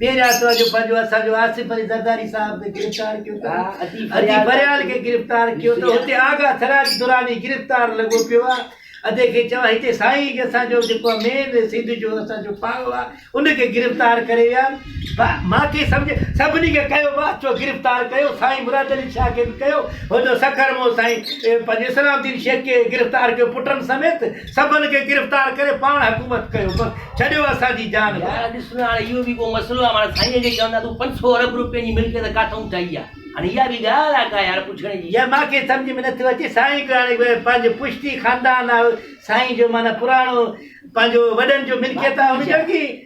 ٻيهر يا تو جو پنهنجو اسان جو آصف علي زرداري صاحب کي گرفتار ڪيو ته اديب فريال کي گرفتار ڪيو ته اتي آغا سراج دراني گرفتار لڳو پيو آ ادي کي چوان هتي سائين جي اسان جو جيڪو مين سنڌ جو اسان جو پاڙو آ ان کي گرفتار ڪري ويا مان کي سمجهه سڀني کي ڪيو وا چو گرفتار ڪيو سائين مراد علي شاهه کي به ڪيو هو جو سکر مون سائين پنهنجو اسلام الدين شيخ کي گرفتار ڪيو پٽن سميت سڀن کي گرفتار ڪري پاڻ حڪومت ڪيو بس ڇڏيو اسان جي جان يار ڀاء. ڏس نه هاڻي اهو به ڪو مسئلو آهي هاڻي سائين کي چوندا تون پنج سؤ ارب روپين جي ملڪيت ڪاٿئون ٺاهي آ هاڻي اها به ڳالهه آ ڪا يار پڇڻ جي. يار مانکي سمجهه ۾ نٿو اچي سائين کي هاڻي پنهنجو پشتي خاندان آ سائين جو معنيٰ پراڻو پنهنجو وڏن جو ملڪيت آ ان جو ڪي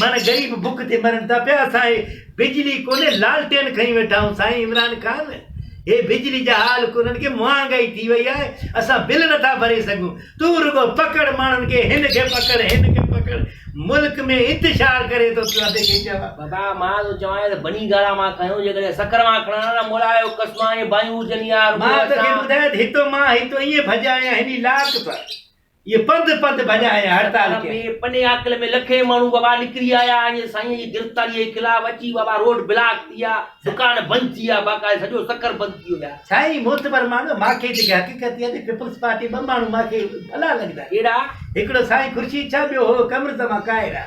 معنيٰ غريب بک تي مرن ٿا پيا اسان هي بجلي ڪونهي لالٽين کڻي ويٺا آهيون سائين عمران خان هي بجلي جا حال ڪونهن ڪي مهانگائي ٿي وئي آهي اسان بل نٿا ڀري سگهون تون رڳو پڪڙ ماڻهن کي هن کي پڪڙ هن کي پڪڙ ملڪ ۾ انتشار ڪري ٿو ڪيو ادي کي چئه بابا مان ٿو چوانء ته بني گارا مان کنيو جيڪڏهن سکر مان کڻان ها نه مولا جو قسم آهي ڀايون هجن يا رڳو مان تو کي اسان ٻڌايات هتو مان هتو ائين ڀڄا آيا هني لاڪ پر اهي پنڌ پنڌ ڀڃا ۽ هڙتال ڪيائين. ۾ پني عاقل ۾ لکين ماڻهو وابا نڪري آيا ۽ سائينء جي گرفتاريء جي خلاف اچي وابا روڊ بلاڪ ٿي ويا، دڪان بند ٿي ويا، باقاعده سڄو سکر بند ٿي ويا. سائين معتبر ماڻهو ماکي جيڪي حقيقت اها ته پيپلز پارٽي ٻه ماڻهو ماکي ڀلا لڳندا. ڪهڙا؟ هڪڙو سائين خورشيد شاهه ٻيو هو قمرزمان ڪائره.